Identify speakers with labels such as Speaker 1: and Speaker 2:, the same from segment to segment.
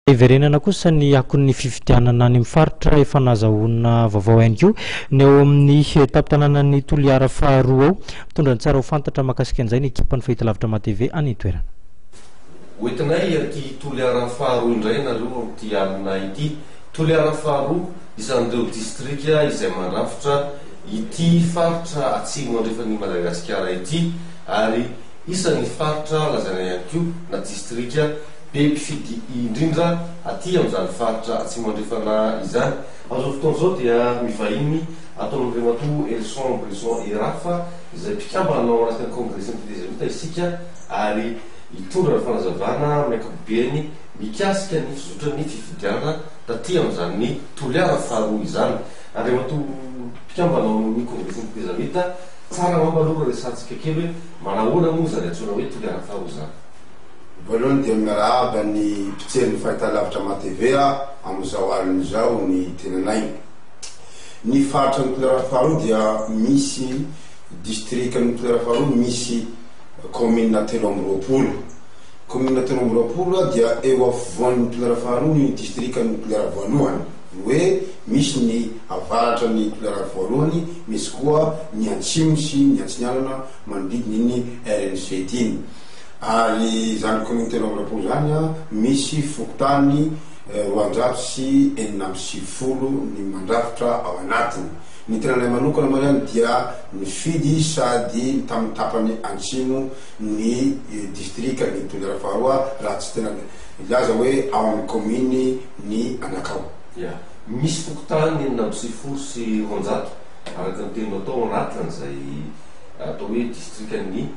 Speaker 1: Hiverenana kosa ny akon'ny fifidianana any amin'ny faritra efa nahazahoana vaovao ihany koa ny ao amin'ny tampon-tanànan'i Toliara faharoa ao. Mitondra ny tsara ho fantatra mahakasika an'izay ny ekipan'ny Fahitalavitra MATV any an-toerana. Hoentinay
Speaker 2: aty Toliara faharoa indray ianareo amin'ity alina ity. Toliara faharoa, isan'ireo distrika izay mandrafitra ity faritra atsimo andrefan'i Madagasikara ity ary. Isan'ny faritra lazaina ihany koa na distrika be mpifidy indrindra aty amin'izany faritra Atsimo Andrefana izany. Amin'izao fotoana izao dia mivahiny ato amin'i Ramatoa Helson Brison Erafa izay mpikambana ao anatin'ny Kongresin'ny Tetezamita isika ary hitondra ny fanazavana amin'ny ankapobeny mikasika ny fizotran'ny fifidianana taty amin'izany toliara faharoa izany. Andriamatoa mpikambana ao amin'ny Kongresin'ny Tetezamita. Tsara angamba aloha no resahantsika kely hoe manahoana moa izany antsoina hoe tolera an thaho izany? Voalohany
Speaker 3: dia miarahaba ny mpijery ny Fahitalavitra Mah TV amin'izao alina izao ny tenanay. Ny faritra ny tolera faharoa dia misy distrika ny tolera faharoa misy kaominina telo amby roapolo. Kaominina telo amby roapolo dia eo afovoan'ny tolera faharoa ny distrikan'ny tolera voalohany. Ny hoe misy ny avaratra ny tolerana voalohany, misy koa ny antsimo sy ny antsinanana manodidina iny rn sept iny. Ary izany kaominina telo amby roapolo izany misy fokontany roanjato sy enina amby sivifolo ny mandrafitra ao anatiny. Ny tenanay manokana moa izany dia nifidy sady tamin'ny tapany antsimo ny distrikan'ny tolera faharoa raha tsy tena hilaza hoe ao amin'ny kaominy, ny anakao. Ya. Misy
Speaker 2: fokontany enina amby sivifolo sy roanjato, araka ny teninao tao, anatiny izay atao hoe distrikan'ny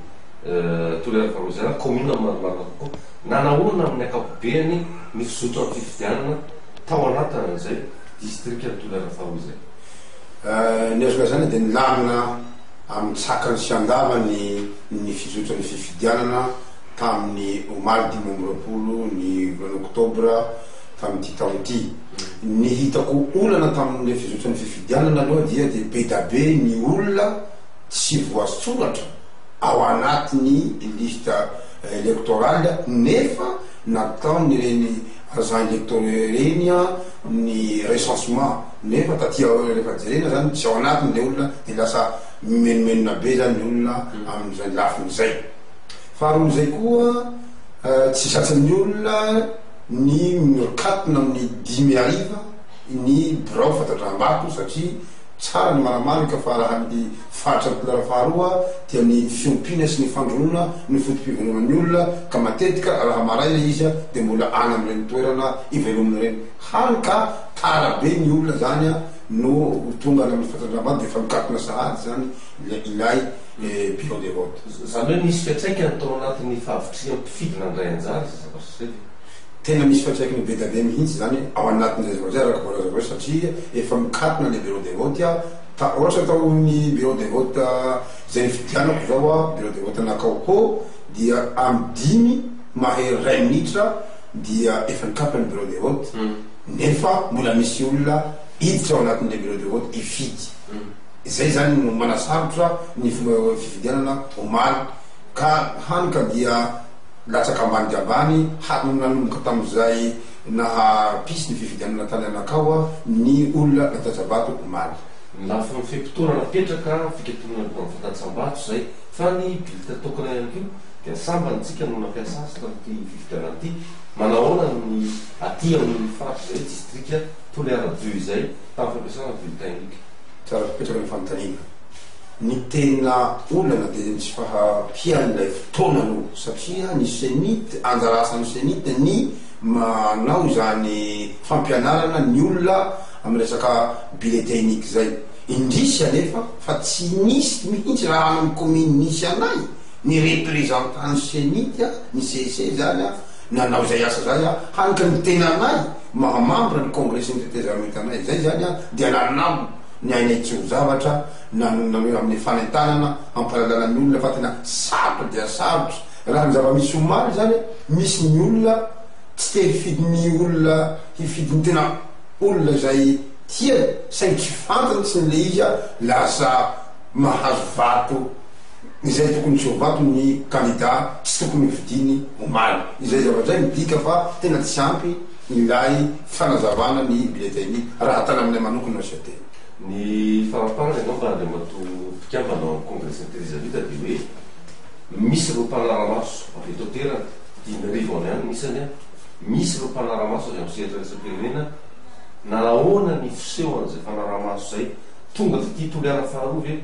Speaker 2: Toliara Farozia, kaominina marimarina kokoa. Nanahoana amin'ny ankapobeany ny fizotran'ny fifidianana tao anatin'izay distrikan'i Toliara faharoa izay?
Speaker 3: Ny azo lazaina dia nilamina amin-tsakany sy an-davany ny fizotran'ny fifidianana. tamin'ny omaly dimy amby roapolo ny volana oktobra tamin'ity taona ity. Ny hitako olana tamin'ilay fizotran'ny fifidianana aloha dia dia be da be ny olona tsy voasoratra ao anatin'ny liste électorale nefa nataon'ireny agents électoraux ireny ny recensement nefa taty aoriana rehefa jerena izany tsy ao anatiny ilay olona dia lasa mimenomenona be izany ny olona amin'izay lafiny izay. Faharoa zay koa tsy tratrin'ny olona ny miorkatona amin'ny dimy hariva ny birao fatandraham-bato satria tsara ny maramarika fa raha ny faritra Toliara faharoa dia ny fiompiana sy ny fandroana no foto-piveloman'ny olona ka matetika raha maraina izy dia mbola any amin'ireny toerana ivelominy ireny hany ka tara be ny olona zany no tonga any amin'ny fatandraham-bato dia efa mikatona sahady zany ilay et pire des ventes. Izany hoe misy fiantraikany
Speaker 2: tao anatin'ny fahavitrihan'ny mpifidy nandray anjara izay zavatra izay ve? Tena misy
Speaker 3: fiantraikany be dia be mihitsy izany ao anatin'izay zavatra izay araka voalaza avy eo satria efa mikatona ilay bureau de vote aho, ta ohatra tao amin'ny bureau de vote izay nifidianako izao aho, bureau de vote an'Akaohô dia amin'ny dimy mahery iray minitra dia efa nikatona ny bureau de vote nefa mbola misy olona hiditra ao anatin'ilay bureau de vote hifidy. Izay izany no manasarotra ny fifidianana omaly ka hany ka dia latsaka ambany dia ambany hatry ny nanomboka tamin'izay naha pisy ny fifidianana tany Anakawa ny olona nataja-bato omaly. Ny lafiny
Speaker 2: fe-potoana napetraka fikatonana ny mpanao fatantsam-bato izay fa ny billetins tokana ihany koa dia sambany tsika no nampiasa azy tamin'ity fifidianana ity. Manahoana ny aty amin'ny faritra izay distrika Toliara-Bio izay tamin'ny fampiasana bulletin unique? Tsara tokoa ny
Speaker 3: fanontaniana. Ny tena olana dia ny tsy fahampian'ilay fotoana aloha satria ny cenit, anjara asan'ny cenit ny manao izany fampianarana ny olona amin'ny resaka bulletin unique izay. Indrisy anefa fa tsy nisy mihitsy raha any amin'ny commune nisy anay ny représentant ny cenit, ny CEC izany, Nanao izay asa izay aho, hany ka ny tenanay mahamambra ny Kongresin'ny Tetezamitanay. Izay izany aho dia nanao ny ainay tsy ho zavatra, na ny nameho amin'ny fanentanana hampalalana ny olona fa tena sarotra dia sarotra. Raha ny zava-misy omaly izany, misy ny olona tsy te hifidy ny olona hifidy ny tena olona izay tiany, saingy tsy fantany tsy ny le izy lasa mahazo vato. izay tokony tsovato ny kandida tsy tokony hofidiany omaly. Izay zavatra izay midika fa tena tsy ampy ilay fanazavana ny bulletin raha tananay manokana no saidaina. Ny
Speaker 2: faramparany angamba Andriamatoa mpikambana ao amin'ny Congrès Intelizavita dia hoe misy ireo mpanara-maso avy eto an-toerana, dimy arivo any ihany ny isany an, misy ireo mpanara-maso avy amin'ny sehatra iraisam-pirenena, nahoana ny fisehoan'izay mpanara-maso izay? Tonga taty Toliara faharoa ve?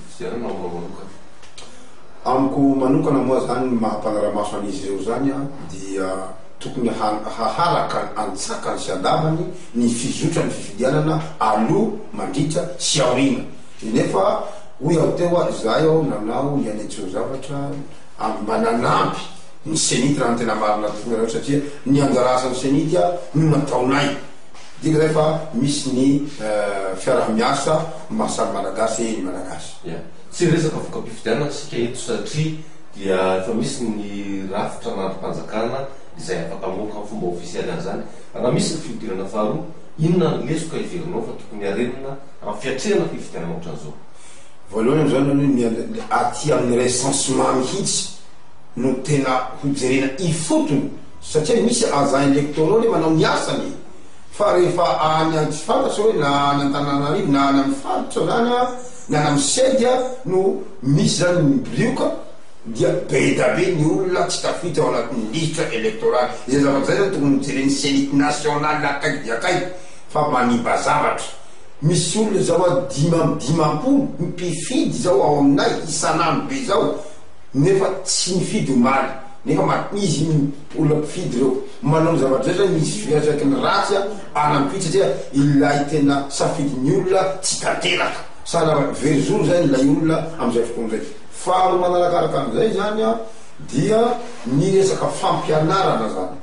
Speaker 2: Izay no maha-mora manokana.
Speaker 3: Amiko manokana moa izany ny maha-mpanara-maso an'izy ireo izany dia tokony haharaka an-tsakany sy an-davany ny fizotran'ny fifidianana aloha, mandritra sy aoriana. Nefa hoy aho teo ary izahay ao nanao ny anay tsoa-zavatra ary mba nanampy ny CENI raha ny tena marina tokoa ianareo satria ny anjara asan'ny CENI dia no nataonay. Didy rehefa misy ny fiaraha-miasa maha samy Malagasy ny Malagasy. Ia. Tsy hiresaka
Speaker 2: voka-pifidianana isika eto satria dia efa misy ny rafitra an'andrim-panjakana izay afaka mamoaka amin'ny fomba ofisialy an'izany. Raha misy ny fihodirana faharoa, inona ny lesoka heverinao fa tokony harenina amin'ny fiatrehana fifidianana ohatran'izao? Voalohany amin'izany
Speaker 3: aloha ny aty amin'ny recensement mihitsy no tena hojerena ifotony. Satria misy agent electoraux le manao ny asany e! Fa rehefa any any tsy fantatra hoe na any Antananarivo na any amin'ny faritra na any na any amin'ny CEDI no misy zany ny brioka dia bedabe ny olona tsy tafiditra ao anatin'ny lisitra electorale. Izay zavatra izay zany tokony hojeren'ny CENI national akaiky dia akaiky fa manimba zavatra. Misy olona zao a dimy amby dimampolo mpifidy zao ao aminay isan'andro be zao. Nefa tsy nifidy omaly nefa ma izy iny olona mpifidy ireo manao ny zava-drehetra misy fiantraikany ratsy any am-py satria ilay tena safidin'ny olona tsy tanteraka. Sanabria very zoro izay ilay olona amin'izay fotoana izay. Faharoa manarakaraka an'izay izany dia ny resaka fampianarana izany.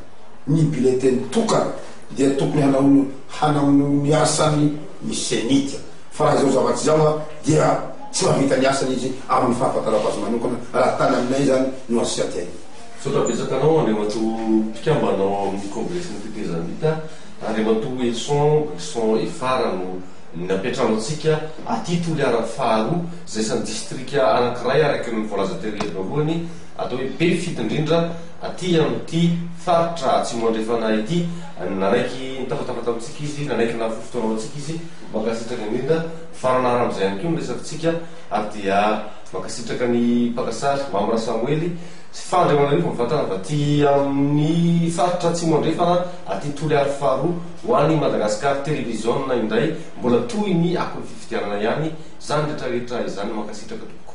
Speaker 3: Ny bileteny tokana dia tokony hanaonao hanaonao ny asany ny CENI. Fa raha izao zavatra izao dia tsy mahavita ny asany izy amin'ny fahafantarako azy manokana raha tany aminay izany no asianty aina. Misaotra betsaka anao
Speaker 2: Andriamatoa mpikambana ao amin'ny kongresin'ny tetezamita, Andriamatoa Wilson Brison Efara no nampiantrano antsika aty Toliara faharoa, izay isan'ny distrika anankiray araka ny voalaza tery voalohany, atao hoe be fifidy indrindra aty amin'ity faritra atsimo andrefana ity, nanaiky nitafatafata amintsika izy, nanaiky nahafoy fotoana ao amintsika izy. Mankasitraka indrindra, mifarana haram'izay ihany koa ny resafintsika ary dia mankasitraka ny mpaka sary, Mamy Rasamoely, sy Fahandriamanarivo mivantana avy aty amin'ny faritra Atsimo Andrefana aty Toliary faharoa ho an'i Madagascar Television indray, mbola tohiny akon'ny fifidianana ihany izany retraretra izany, mankasitraka tompoko.